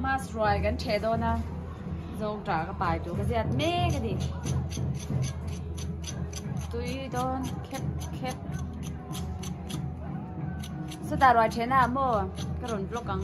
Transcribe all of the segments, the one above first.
Mask ruai kan chhe dawn a, zawng ṭah ka pai tur ka ziat mek a ni. Tui dawn khep khep. Sata ruai chhena ah maw ka rawn vlog ang.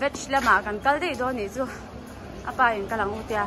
Veg lamah kan kal daih dawn nih chu a pa in ka lang u tia.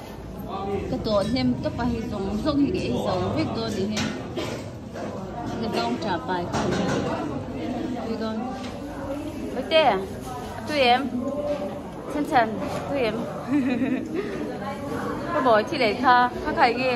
Ka tawh hnem tawp a hei zawng zawng hi ka ei zo vek dawn ni hi. Ka zawng tah pai kha a nei a tui dawn. Ute, a tui em? Chan chan, a tui em? Ka bawi thilei kha, kha khai nge?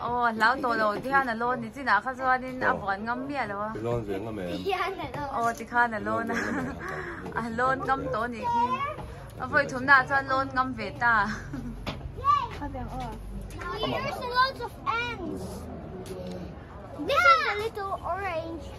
Aw, hlau tawh lo ti khan a lawn ni chinah kha chuanin a buan ngam miah lo a. Lawn ve ngam em? Aw ti khan a lawn a. A lawn ngam tawh anih khi. A vawi thumnaah chuan lawn ngam ve ta. Amah.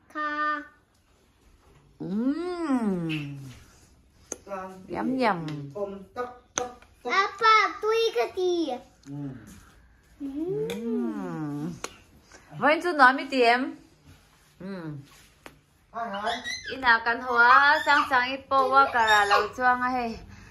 Kha. Yum yum. Apa tui ka ti. Vain chu nuam mi ti em. Ina kan hoa chang chang i powa kara lo chuang a hei.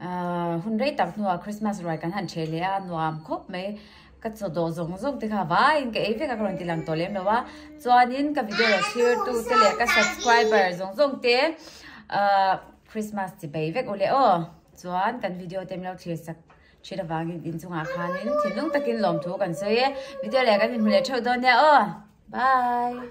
Ahh, hun rei tak hnuah Christmas ruai kan han chhe leh a, nuam khawp mai. Ka chaw dawh zawng zawng te kha vaiin ka ei vek a, ka rawn ti lang tawh lem lo a. Chuanin ka video la chhirtute leh ka subscriber zawng zawng te ahh Christmas chi bei vek u leh aw. Chuan kan video te min lo thlir sak chhit avangin inchungah khanin thinlung takin lawm thu kan sawi e. Video leh kan inhmu leh theuh dawn nia aw. Bye!